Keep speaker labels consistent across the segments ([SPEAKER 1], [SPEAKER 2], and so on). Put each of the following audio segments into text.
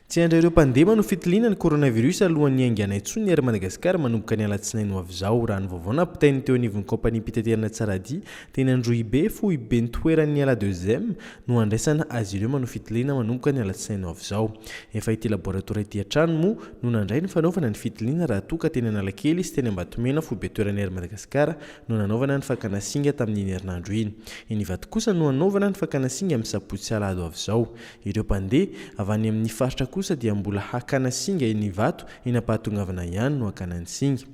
[SPEAKER 1] Tsy handray ireo mpandema no fitiliana ny coronavirus alohan'ny haingana intsony ny Air Madagascar manomboka ny alatsinainy ho avy izao, raha ny vaovao nampitain'ny teo anivon'ny kaompaniam-pitaterana Tsaradia teny Androhibe, foiben-toeran'ny ala deuxième no handraisana azy ireo manao fitiliana manomboka ny alatsinainy ho avy izao. Efa ity laboratoire ity hatrany moa no nandray ny fanaovana ny fitiliana raha toa ka teny Analakely sy teny Ambatomena foiben-toeran'ny Air Madagascar no nanaovana ny fakana singa tamin'iny herinandro iny. Eny Ivato kosa no hanaovana ny fakana singa amin'ny sabotsy alahady ho avy izao. Ireo mpandeha avy any amin'ny faritra kosa dia mbola hakana singa eny Ivato eny am-pahatongavana ihany no hakana ny singa.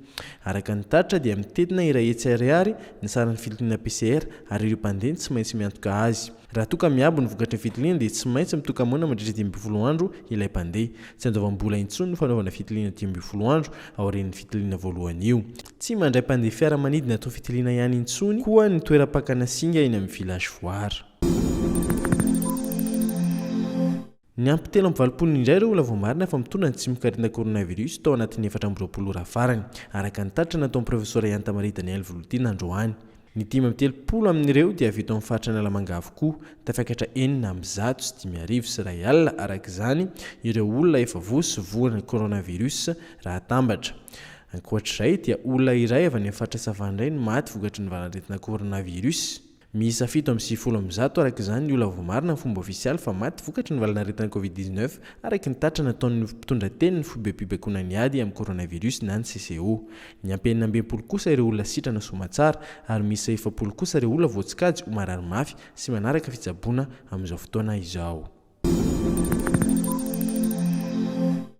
[SPEAKER 1] Araka ny taritra dia mitentina iray hetsy ariary ny saran'ny fitiliana PCR ary ireo mpandeha no tsy maintsy miantoka azy. Raha toa ka miabo ny vokatry ny fitiliana dia tsy maintsy mitoka-moana mandritra dimy ambin'ny folo andro ilay mpandeha. Tsy andoavam-bola intsony ny fanaovana fitiliana dimy ambin'ny folo andro aorian'ny fitiliana voalohany io. Tsy mandray mpandeha fiaramanidina toa fitiliana ihany intsony koa ny toeram-pakana singa eny amin'ny Village Foire. Niampy telo amby valopolo indray ireo olona voamarina fa mitondra ny tsimok'aretina coronavirus tao anatin'ny efatra amby roapolo ora farany, araka ny tatitra nataon'ny Profesora Iantamarihy Daniel Volodina androany. Ny dimy amby telopolo amin'ireo dia avy eto amin'ny faritra Analamanga avokoa. Tafakatra enina amby zato sy dimy arivo sy iray alina, araka izany, ireo olona efa voa sy voan' ny coronavirus raha atambatra. Ankoatra izay dia olona iray avy any amin'ny faritra Sava indray no maty vokatry ny valan'aretina coronavirus. Miisa fito amby sivifolo amby zato, araka izany, ny olona voamarina amin'ny fomba ofisialy fa maty vokatry ny valan'aretina covid dix-neuf, araka ny tatra nataon'ny mpitondrateny ny foibem-pibaikoana ny ady amin'ny coronavirus na ny CCO. Niampy enina amby enimpolo kosa ireo olona sitrana soamatsara ary miisa efapolo kosa ireo olona voatsikajy ho marary mafy sy manaraka fitsaboana amin'izao fotoana izao.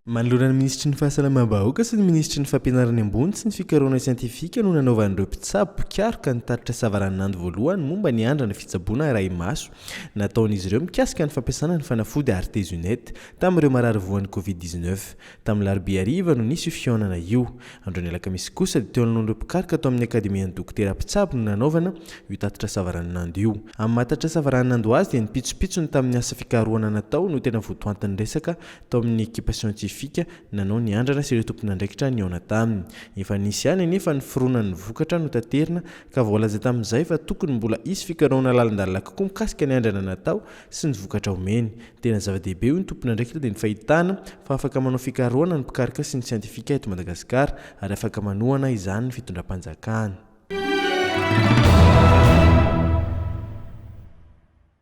[SPEAKER 1] Manoloana ny minisitry ny Fahasalamam-bahoaka sy ny minisitry ny Fampianarana ambony sy ny fikarohana siantifika no nanaovan'ireo mpitsabo mpikaroka ny tatitra savaranonando voalohany momba ny andrana fitsaboana arahi-maso nataon'izy ireo mikasika ny fampiasana ny fanafody Artesunate tamin'ireo marary voan'ny Covid dix-neuf Tamin'ny larobia hariva no nisy io fihaonana io. Andron'ny alakamisy kosa dia teo anoloan'ireo mpikaroka tao amin'ny akademian'ny dokotera mpitsabo no nanaovana io tatitra savaranonando io. Amin'ny maha tatitra savaranonando azy dia ny pitsopitsony tamin'ny asa fikarohana natao no tena votoantin'ny resaka tao amin'ny ekipa siantifika nanao ny andrana sy ireo tompon'andraikitra nihaona taminy. Efa nisy ihany anefa ny fironan'ny vokatra notaterina ka voalaza tamin'izay fa tokony mbola hisy fikarohana lalindalina kokoa mikasika ny andrana natao sy ny vokatra omeny. Tena zava-dehibe hoy ny tompon'andraikitra dia ny fahitana fa afaka manao fikarohana ny mpikaroka sy ny siantifika eto Madagasikara ary afaka manohana izany ny fitondram-panjakana.